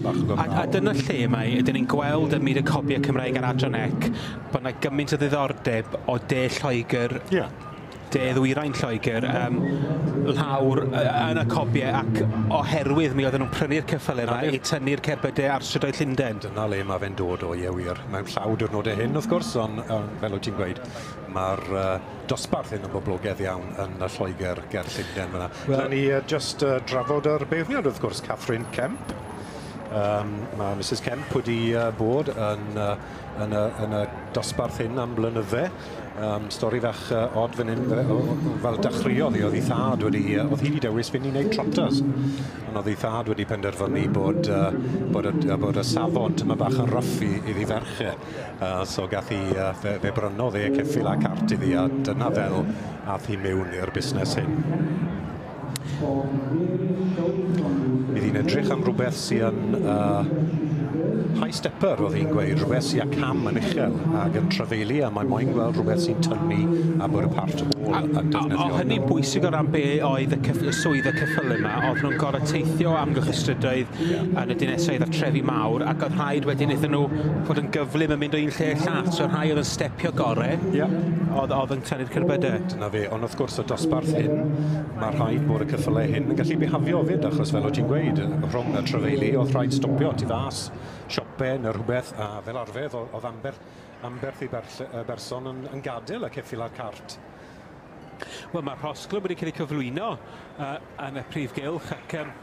A, a dyna lle mae, ydyn ni'n gweld ym myd y copiau Cymraeg ar Adran Ec, bod yna gymaint o ddiddordeb o de Lloegr, yeah. de ddwyrain Lloegr, um, lawr yn y copiau ac oherwydd mi oedden nhw'n prynu'r ceffylau yma i tynnu'r cerbydau ar strydoedd Llundain. Dyna le mae fe'n dod o, ie wir. Mae'n llaw diwrnodau hyn, wrth gwrs, ond um, fel wyt ti'n gweud, mae'r uh, dosbarth hyn o boblogedd iawn yn yy Lloegr ger Llundain fyn 'na. Wel... Newn ni yy jyst yy drafod yr beirniad wrth gwrs, Catherine Kemp. Yym ma' Misus Kemp wedi yy bod yn yy yn y yn y dosbarth hyn am blynydde. Yym stori fach yy od fyn 'yn fe- o- o- o- fel dechreuodd 'i o'dd 'i thad wedi yy o'dd hi 'di dewis fyn' i neud trotters. On' o'dd 'i thad wedi penderfynu bod yy bod y d- yy bod y safon tymed bach yn rough i iddi ferch e. Yy so gath 'i yy fe fe brynodd e ceffyl a cart iddi a dyna fel ath hi miwn i'r busnes hyn. Bydd hi'n edrych am rwbeth sy yn yy high stepper o'dd hi'n gweud rwbeth sy â cam yn uchel ag yn trafeilu a mae moyn gweld rwbeth sy'n tynnu a bod y part hall yn defnyddiol. A o- o- o- hynny'n bwysig o ran be' oedd y cyff- y swydd y cyffyle 'ma o'dd nw'n gor'o' teithio amgylch y strydoedd yn y dineseau a'r trefi mawr, ac oedd rhaid wedyn iddyn nhw fod yn gyflym yn mynd o un lle i'r llall. So rhai oedd yn stepio gore, yeah. oedd, oedd yn tynnu'r cerbydau. Dyna fe, ond wrth gwrs y dosbarth hyn, mae rhaid bod y cyffylau hyn yn gallu bihafio fyd, achos fel o ti'n gweud, rhwng y trefeili, oedd rhaid stopio tu fas, siope neu rhywbeth, a fel arfer, oedd amber, amberth i berson yn, yn gadael y ceffil a'r cart. Wel, mae'r rhosglwm wedi cael ei cyflwyno uh, yn y prif gylch ac um,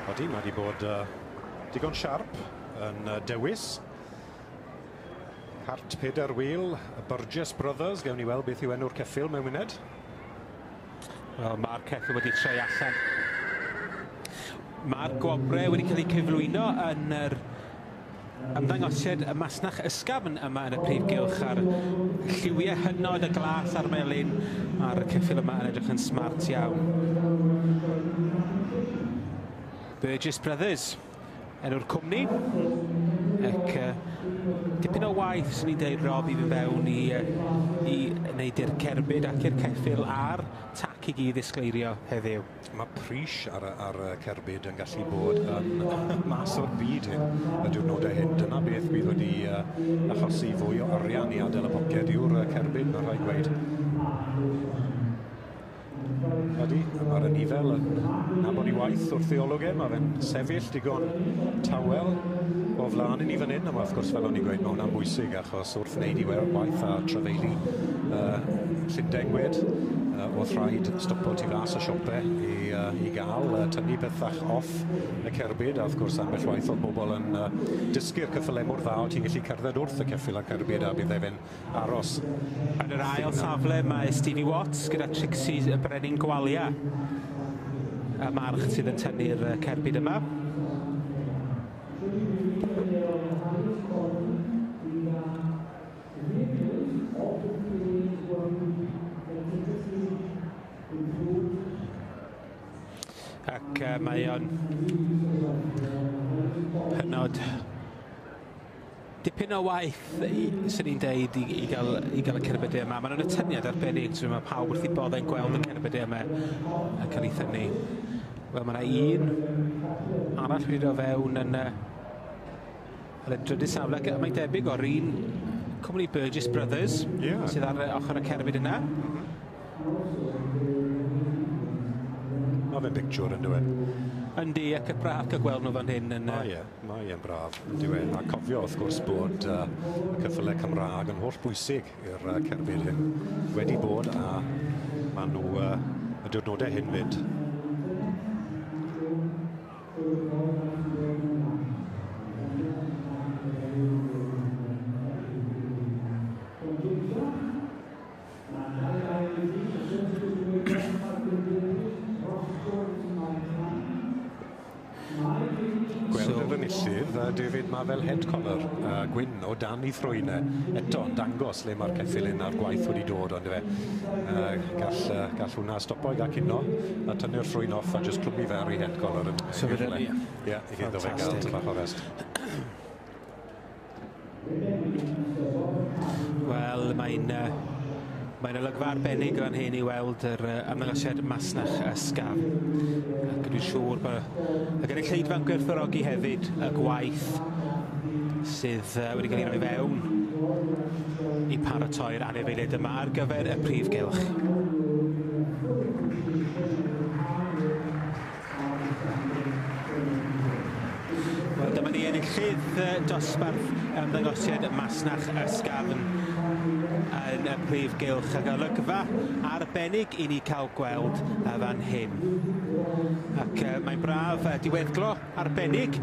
Odi, mae wedi bod uh, digon siarp yn uh, dewis. Hart Peter Wheel, y Burgess Brothers, gewn ni weld beth yw enw'r ceffil mewn munud. Wel, mae'r ceffyl wedi troi allan. Mae'r gwobrau wedi cael eu cyflwyno yn yr ymddangosiad y masnach ysgafn yma yn y prif gylch a'r lliwiau hynod y glas a'r melyn. Mae'r ceffil yma yn edrych yn smart iawn. Burgess Brothers. Enw'r cwmni. Ac uh, dipyn o waith, swn i'n deud, Rob, i fynd fewn i, uh, i wneud i'r cerbyd ac i'r ceffil a'r tac i gyd ddisgleirio heddiw. Mae pris ar, ar y cerbyd yn gallu bod yn mas o'r byd hyn. Y diwrnodau hyn, dyna beth bydd wedi uh, achosi fwy o arian i adael y poced yw'r cerbyd, mae'n rhaid gweud. Ydi, a ma'r anifail yn nabod 'i waith wrth ei olwg e, ma' fe'n sefyll digon tawel o flan i ni fan 'yn, a wrth gwrs fel o'n i'n gweud ma' wnna'n bwysig achos wrth wneud 'i we- waith a trafeilu yy Llundain gwed yy o'dd rhaid stopo tu fas y siope i yy i ga'l yy tynnu pethach off y cerbyd a wrth gwrs ambell waith o'dd bobol yn yy dysgu'r cyffyle mor dda o' ti'n gallu cerdded wrth y ceffyl a'r cerbyd a bydde fe'n aros. Yn yr ail safle mae Stevie Watts gyda Trixie y Brenin Gwalia y march sydd yn tynnu'r cerbyd yma. Ac mae o'n hynod Dipyn o waith i... 'swn i'n deud i i ga'l i ga'l y cerbydau yma. Ma' 'na atyniad arbennig t'mo' ma' pawb wrth 'u bodde yn gweld y cerbydau yma yn ca'l 'u thynnu. Wel ma' 'na un arall wedi do' fewn yn yy yn y drydydd safle ac yy mae'n debyg o'r un cwmni Burgess Brothers... Ie. ...sydd ar yy ochor y cerbyd yna. M-hm. Ma' fe'n bictiwr on'd yw e? Yndi ac y braf ca'l gweld nw fan hyn yn yy... O ie. Mae e'n braf, on'd yw e? A cofio wrth gwrs bod uh, y cyffyle Cymraeg yn holl bwysig i'r uh, cerbyd hyn. Wedi bod a maen nhw uh, y diwrnodau hyn fyd. Mae'n cael ei ailwynebu dros fenthyg y diwydiant a'r gweinyddiaeth dros sgôr y timau ifanc. Mae David yn... Gweld yr enillydd, David, mae fel head collar uh, gwyn o dan ei thrwyn e. Eto, yn dangos le mae'r ceffil un a'r gwaith wedi dod, ond fe. Uh, gall, uh, gall hwnna stopo i gael cino a tynnu'r thrwyn off a just clwmu fe ar ei head collar. Yn, so fe, ie, yeah, iddo fe gael tymach o rest. Wel, mae'n yy mae'n olygfa arbennig fan hyn i weld yr yy ymddangosiad masnach ysgafn, ac dwi'n siŵr bo' y gynulleidfa'n gwerthfawrogi hefyd y gwaith sydd yy wedi cael ei roi i fewn i paratoi'r anifeiliaid yma ar gyfer y prif gylch. Wel dyma ni enillydd dosbarth ymddangosiad masnach ysgafn yn y prif gylch a golygfa arbennig i ni cael gweld y fan hyn ac uh, mae'n braf uh, diweddglo arbennig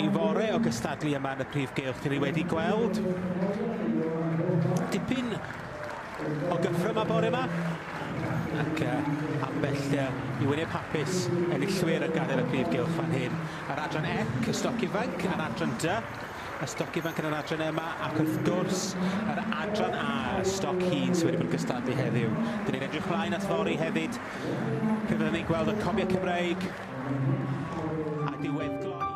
i fore o gystadlu yma yn y prif gylch dyn ni wedi gweld dipyn o gychwyn y bore yma ac yy ambell yy i wyneb hapus enillwyr yn gadael y prif gylch fan hyn. Yr adran ec, y stoc ifanc, yr adran dy, y stoc ifanc yn yr adran yma ac wrth gwrs yr adran A, y stoc hŷn sydd wedi bod yn gystadlu heddiw. Dyn ni'n edrych mlaen at fory hefyd pe fydden ni'n gweld y comiau Cymreig a diweddglo i...